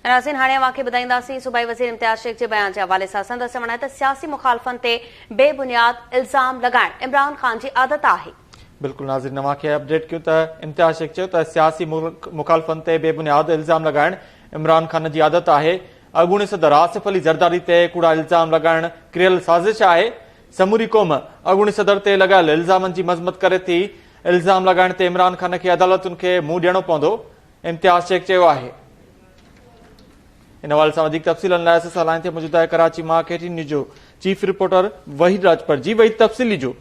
ناظرين هاڻي اوهان کي ٻڌائينداسين صوبائي وزير امتياز شيخ جي بيان جي حوالي سان سندس چوڻ آهي ته سياسي مخالفن تي بي بنياد الزام لڳائڻ عمران خان جي عادت آهي. بلڪل ناظرين اوهان کي اپڊيٽ ڪيون ته امتياز شيخ چيو ته سياسي مخالفن تي بي بنياد الزام لڳائڻ عمران خان جي عادت آهي اڳوڻي صدر آصف علي زرداري تي ڪوڙا الزام لڳائڻ ڪريل سازش آهي سموري قوم اڳوڻي صدر تي لڳايل الزامن جي مذمت ڪري ٿي الزام لڳائڻ تي عمران خان کي عدالتن کي منهن ڏيڻو پوندو امتياز شيخ چيو آهي. ان حوالي سان وڌيڪ تفصيلن لاء اسان سان لائين تي موجود آهي ڪراچي مان K T N news chief reporter Waheed Rajpar جي وحيد تفصيل ڏجو.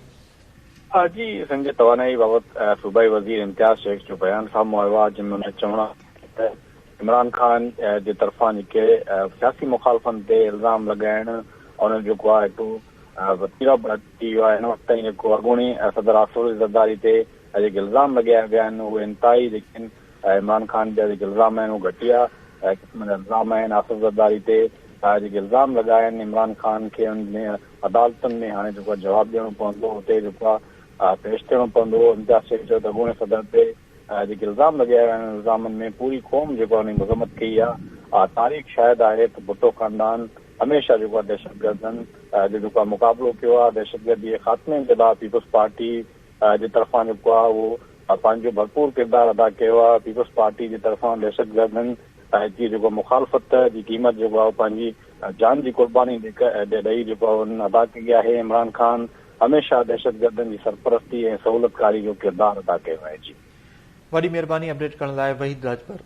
جي سنڌ جي توانائي بابت صوبائي وزير امتياز شيخ جو بيان سامهون آيو آهي جنهن ۾ ان چوڻ آهي ته عمران خان جي طرفان جيڪي سياسي مخالفن تي الزام لڳائڻ ان جو جيڪو آهي ٽو وتيرو ٿي ويو آهي ان وقت تائين جيڪو اڳوڻي صدر آصف علي زرداري تي ۽ جيڪي الزام لڳايا ويا آهن اهي انتهائي جيڪي آهن عمران خان جا جيڪي الزام آهن اهي گهٽيا قسم جا الزام آهن آصف زرداري تي جيڪي الزام لڳا آهن عمران خان کي ان ۾ عدالتن ۾ هاڻي جيڪو جواب ڏيڻو پوندو اتي جيڪو آهي پيش ٿيڻو پوندو امتياز شيخ چيو ته اڳوڻي صدر تي جيڪي الزام لڳايا ويا آهن ان الزامن ۾ پوري قوم جيڪو آهي ان جي مذمت ڪئي آهي تاريخ شاهد آهي ته ڀٽو خاندان هميشه جيڪو آهي دهشتگردن جو جيڪو آهي مقابلو ڪيو آهي دهشتگردي جي خاتمي جي لاء پيپلز پارٽي جي طرفان جيڪو آهي اهو پنهنجو ڀرپور ڪردار ادا ڪيو آهي، پيپلز پارٽي جي طرفان دهشتگردن جي جيڪو مخالفت جي قيمت جيڪو آهي اهو پنهنجي جان جي قرباني ڏئي جيڪو آهي ان ادا ڪئي آهي، عمران خان هميشه دهشتگردن جي سرپرستي ۽ سهولتڪاري جو ڪردار ادا ڪيو آهي. جي. وڏي مھرباني اپڊيٽ ڪرڻ لاء وحيد راڄپر.